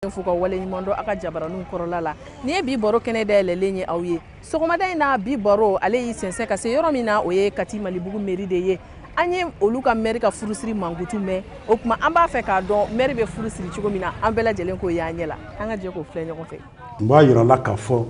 fo ka wale ɲuman dɔn a ka jabaraninw kɔrɔla la nin ye bi baro kɛnɛ dayɛlɛlen ye aw ye sɔgɔmada in na bi baro ale y'i sɛnsɛn ka se yɔrɔ min na o ye kati malibugu meri de ye an ye olu ka mɛri ka furusiri mankutu mɛn o tuma an b'a fɛ k'a dɔn mɛri bɛ furu siri cogo min na an bɛɛ lajɛlen k'o y'an ɲɛ la an ka jɛ k'o filɛ ɲɔgɔn fɛ n b'a yira la k'a fɔ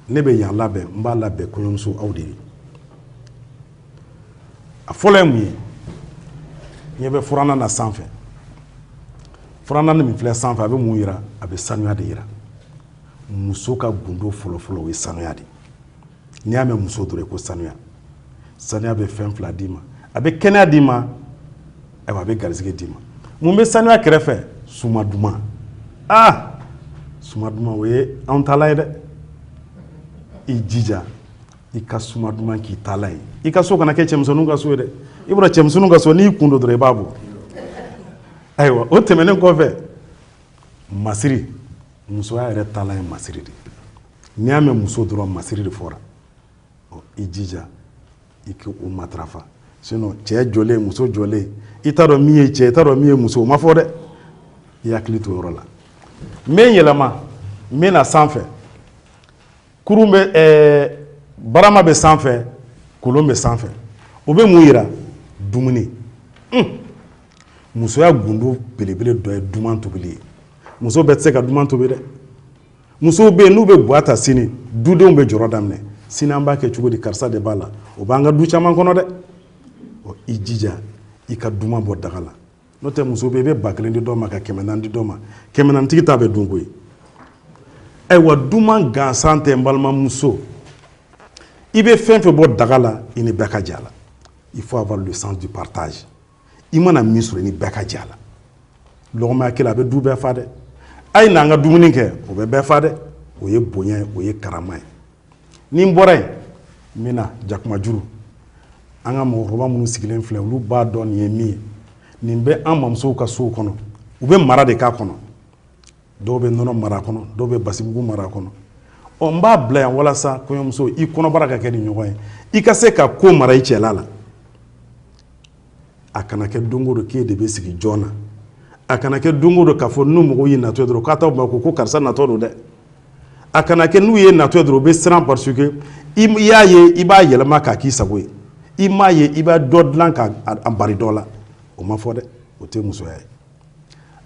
ne bɛ yan labɛn n b'a labɛn kɔɲɔmuso aw de ye a fɔlɔ ye mun ye ɲɛ bɛ furannan na sanfɛ furannan min filɛ sanfɛ a bɛ mun yira a bɛ sanuya de yira muso ka gundo fɔlɔfɔlɔ o ye sanuya de n'i y'a mɛn muso dɔrɔn ko sanuya sanuya bɛ fɛn fila d'i ma a bɛ kɛnɛya d'i ma ayiwa a bɛ garisɛgɛ d'i ma mun bɛ sanuya kɛrɛfɛ suma duman aa suma duman o ye anw taalan ye dɛ i jija i ka suma duman k'i taalan ye i ka so kana kɛ cɛmisɛnninw ka so ye dɛ i bɔra cɛmisɛnninw ka so n'i kun don dɔrɔn i b'a bɔ ayiwa o tɛmɛnen kɔfɛ masiri musoya yɛrɛ taalan ye masiri de n'i y'a mɛn muso dɔrɔn masiri de fɔra ɔ i jija i k'o matarafa sinon cɛ jɔlen muso jɔlen i t'a dɔn min ye cɛ i t'a dɔn min ye muso o ma fɔ dɛ i hakili to yɔrɔ la n bɛ n yɛlɛma n bɛ na sanfɛ kurun bɛ ɛɛ barama bɛ sanfɛ kolon bɛ sanfɛ o bɛ mun yira dumuni musoya gundo belebele dɔ ye duman tobili ye muso bɛɛ tɛ se ka duman tobi dɛ musow bɛ yen n'u bɛ ga ta sini dudenw bɛ jɔrɔ daminɛ sini an b'a kɛ cogo di karisa de b'a la o b'an ka du caman kɔnɔ dɛ ɔ i jija i ka duman bɔ daga la n'o tɛ muso bɛ i bɛ ba kelen di dɔ ma ka kɛmɛ naani di dɔ ma kɛmɛ naani tigi ta bɛ dun koyi ayiwa duman gansan tɛ n balimamuso i bɛ fɛn fɛn bɔ daga la i ni bɛɛ ka jɛ a la il faut avoir le sens du partage i mana min sɔrɔ i ni bɛɛ ka jɛ a la lɔgɔma ɲɛ kelen a bɛ du bɛɛ fa dɛ a ye n'an ka dumuni kɛ o bɛ bɛɛ fa dɛ o ye bonya ye o ye karama ye ni n bɔra yen n bɛ na jakumajuru an ka mɔgɔkɔrɔba minnu sigilen filɛ olu b'a dɔn nin ye min ye nin bɛ an mamusow ka sow kɔnɔ u bɛ mara de k'a kɔnɔ dɔw bɛ nɔnɔ mara a kɔnɔ dɔw bɛ basimugu mara a kɔnɔ ɔ n b'a bila yan walasa kɔɲɔmuso i kɔnɔbara ka kɛ nin ɲɔgɔn ye i ka se ka ko mara i cɛla la a kana kɛ don o don k'e de bɛ sigi jɔn na a kana kɛ don o don k'a fɔ ni mɔgɔw y'i natɔ ye dɔrɔn k'a ma ko ko karisa natɔ don dɛ a kana kɛ n'u y'e natɔ ye dɔrɔn u bɛ siran parce que i y'a ye i b'a yɛlɛma k'a k'i sago ye i m'a ye i b'a dɔ dilan k'a bari dɔ la o ma fɔ dɛ o tɛ musoya ye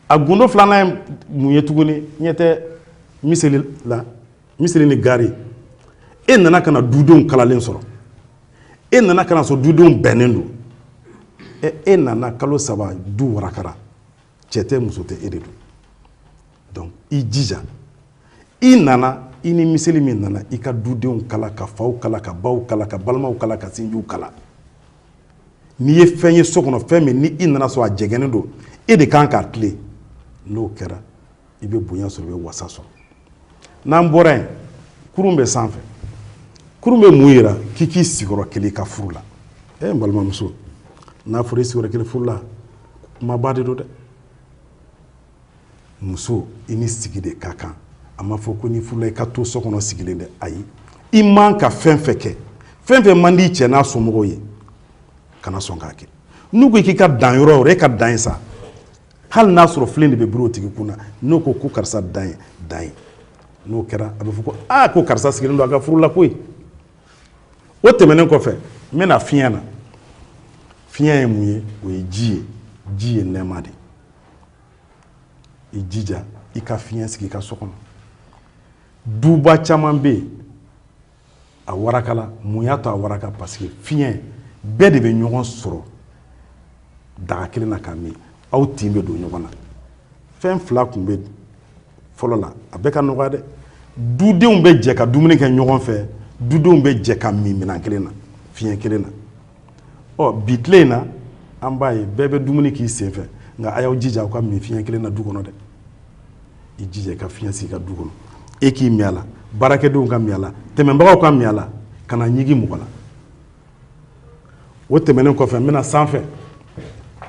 a gundo filanan ye mun ye tuguni ɲɛ tɛ miseli la miseli ni gari e nana ka na dudenw kalalen sɔrɔ e nana ka na sɔrɔ dudenw bɛnnen don e, e nana kalo saba du warakara cɛ tɛ muso tɛ e de don donc i jija i nana i ni miseli min nana i ka dudenw kala ka faw kala ka baw kala ka balimaw kala ka sinjiw kala n'i ye fɛn ye so kɔnɔ fɛn min ni i nana sɔrɔ a jɛgɛnnen don e de kan k'a tilen n'o kɛra i bɛ bonya sɔrɔ i bɛ wasa sɔrɔ n'an bɔra yen kurun bɛ sanfɛ kurun bɛ mun yira k'i k'i sigi yɔrɔ kelen i ka furu la e eh, n balimamuso n'a fɔra i sigi yɔrɔ kelen furu la kumaba de don dɛ muso i ni sigi de ka kan a ma fɔ ko n'i furula i ka to so kɔnɔ sigilen dɛ ayi i man ka fɛn fɛn kɛ fɛn fɛn man di cɛ n'a somɔgɔw ye kana sɔn k'a kɛ n'u ko k'i ka dan yɔrɔ yɔrɔ e ka dan yen sa hali n'a sɔrɔ filen de bɛ biri o tigi kun na n'o ko ko karisa dan yen dan yen n'o kɛra a bɛ fɔ ko aa ko karisa sigilen don a ka furu la koyi o tɛmɛnen kɔfɛ n bɛ na fiɲɛ na fiɲɛ ye mun ye o ye ji ye ji ye nɛɛma de ye i jija i ka fiɲɛ sigi i ka so kɔnɔ duba caman bɛ yen a warakala mun y'a to a waraka parce que fiɲɛ bɛɛ de bɛ ɲɔgɔn sɔrɔ daga kelen na ka min aw tin bɛ don ɲɔgɔn na fɛn fila tun bɛ fɔlɔ la a bɛɛ ka nɔgɔya dɛ dudenw bɛ jɛ ka dumuni kɛ ɲɔgɔn fɛ dudenw bɛ jɛ ka min minɛn kelen na fiɲɛ kelen na ɔ bi tile in na an b'a ye bɛɛ bɛ dumuni k'i senfɛ nka a y'aw jija aw ka min fiɲɛ kelen na du kɔnɔ dɛ i jija i ka fiɲɛ sigi i ka du kɔnɔ e k'i min a la baarakɛdenw ka min a la tɛmɛnbagaw ka min a la kana ɲigin mɔgɔ la o tɛmɛnen kɔfɛ n bɛ na sanfɛ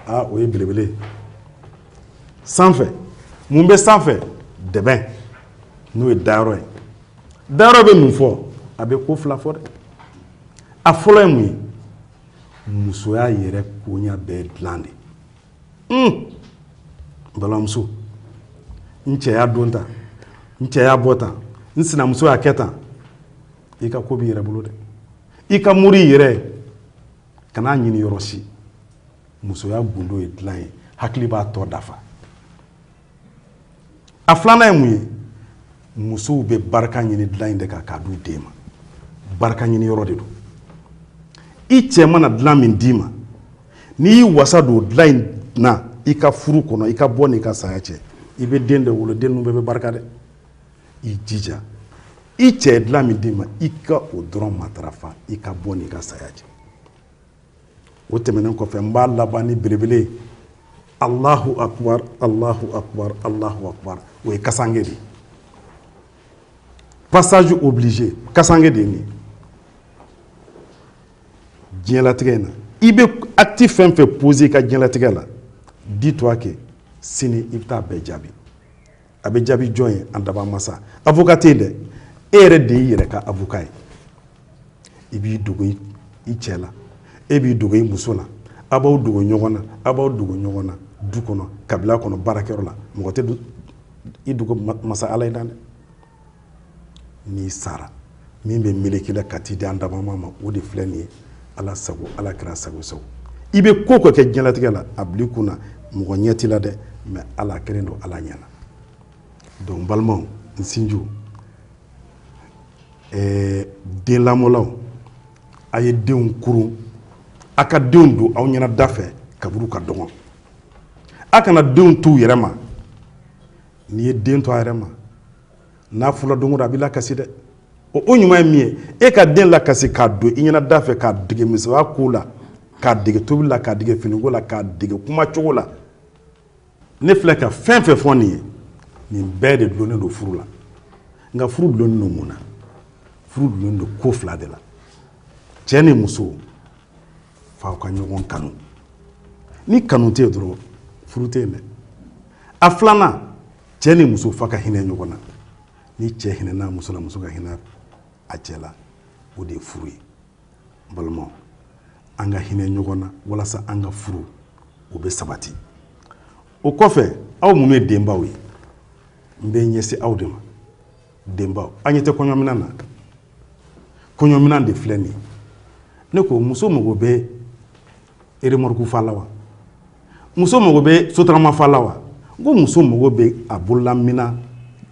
aa o ye belebele ye sanfɛ mun bɛ sanfɛ dɛbɛn n'o ye dayɔrɔ ye dayɔrɔ bɛ mun fɔ a bɛ ko fila fɔ dɛ a fɔlɔ ye mun ye musoya yɛrɛ koɲa bɛɛ dilan de balimamuso n cɛ y'a don tan n cɛ y'a bɔ tan n sinamuso y'a kɛ tan i ka ko b'i yɛrɛ bolo dɛ i ka mori i yɛrɛ kan'a ɲini yɔrɔ si musoya gundo ye dilan ye hakili b'a tɔ dafa a filanan ye mun ye musow bɛ barika ɲini dilan in de kan k'a d'u den ma barika ɲini yɔrɔ de don i cɛ mana dilan min d'i ma n'i y'i wasa don dilan in na i ka furu kɔnɔ i ka bɔ n'i ka saya cɛ i bɛ den de wolo den ninnu bɛɛ bɛ barika dɛ i jija i cɛ ye dilan min d'i ma i ka o dɔrɔn matarafa i ka bɔ n'i ka saya cɛ o tɛmɛnen kɔfɛ n b'a laban ni belebele ye alahu akubar alahu akubar alahu akubar o ye kasange de ye passage obligé kasange de ye nin ye diɲɛlatigɛ in na i bɛ acte fɛn fɛn poser i ka diɲɛlatigɛ la dis toi que sini i bɛ taa bɛɛ jaabi a bɛ jaabi jɔn ye an daba masa avocat tɛ yen dɛ e yɛrɛ de y'i yɛrɛ ka avocat ye i b'i dogo i cɛ la e b'i dogo i muso la a b'aw dogo ɲɔgɔn na a b'aw dogo ɲɔgɔn na du kɔnɔ kabila kɔnɔ baarakɛyɔrɔ la mɔgɔ tɛ i dogo masa ala ye dan dɛ n'i sara min bɛ meleke i la ka t'i di an daba masa ma o de filɛ nin ye ala sago ala kira sago sago i bɛ ko ko kɛ diɲɛlatigɛ la a bil'i kun na mɔgɔ ɲɛ t'i la dɛ mais ala kɛlen don ala ɲɛna donc balimaw n sinjiw ɛɛ den lamɔlaw a ye denw kurun a ka denw don aw ɲɛna da fɛ kaburu ka dɔgɔn a kana denw t'u yɛrɛ ma n'i ye den to a yɛrɛ ma n'a fula don a b'i lakasi dɛ o ɲuman ye min ye e ka den lakasi k'a don i ɲɛna da fɛ k'a dege musoya ko la k'a dege tobili la k'a dege finiko la k'a dege kumacogo la ne filɛ ka fɛn fɛn fɔ nin ye nin bɛɛ de dulonnen don furu la nka furu dulonnen don mun na furu dulonnen don ko fila de la cɛ ni muso f'aw ka ɲɔgɔn kanu ni kanu tɛ yen dɔrɔn furu tɛ yen dɛ a filanan cɛ ni muso f'a ka hinɛ ɲɔgɔn na ni cɛ hinɛna muso la muso ka hinɛ a cɛ la o de ye furu ye n balimaw an ka hinɛ ɲɔgɔn na walasa an ka furu o bɛ sabati o kɔfɛ aw minnu ye denbaw ye n bɛ ɲɛsin aw de ma denbaw an ɲɛ tɛ kɔɲɔminan na kɔɲɔminan de filɛ nin ye ne ko muso mago bɛ remorque fa la wa muso mago bɛ sotarama fa la wa n ko muso mago bɛ a bololaminan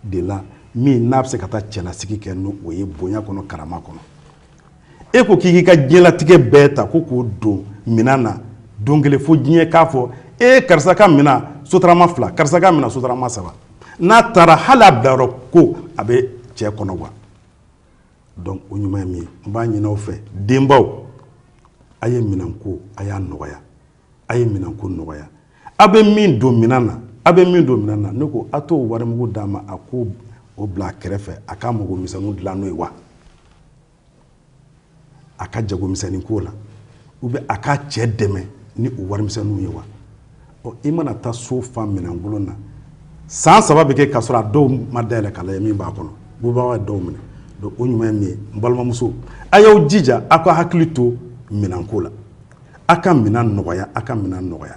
de la min n'a bɛ se ka taa cɛlasigi kɛ n'o o ye bonya kɔnɔ karama kɔnɔ e ko k'i k'i ka diɲɛlatigɛ bɛɛ ta ko k'o don minan na don kelen fo diɲɛ k'a fɔ e karisa ka minan sotarama fila karisa ka minan sotarama saba n'a taara hali a bilayɔrɔ ko a bɛ cɛ kɔnɔgan donc o ɲuman ye min ye n b'a ɲini aw fɛ denbaw a ye minanko a y'a nɔgɔya a ye minanko nɔgɔya aw bɛ min don minan na aw bɛ min don minan na ne ko aw t'o warimugu d'a ma a k'o bila a kɛrɛfɛ a k'a mago misɛnninw dilan n'o ye wa a ka jagomisɛnnin ko la u bɛ a ka cɛ dɛmɛ ni o warimisɛnninw ye wa ɔ i mana taa so fa minɛnkolon na san saba bɛ kɛ k'a sɔrɔ a dɔw ma dayɛlɛ k'a lajɛ min b'a kɔnɔ bubaga ye dɔw minɛ donc o ɲuman ye min ye n balimamuso a y'aw jija aw ka hakili to minɛnko la aw ka minɛn nɔgɔya aw ka minɛn nɔgɔya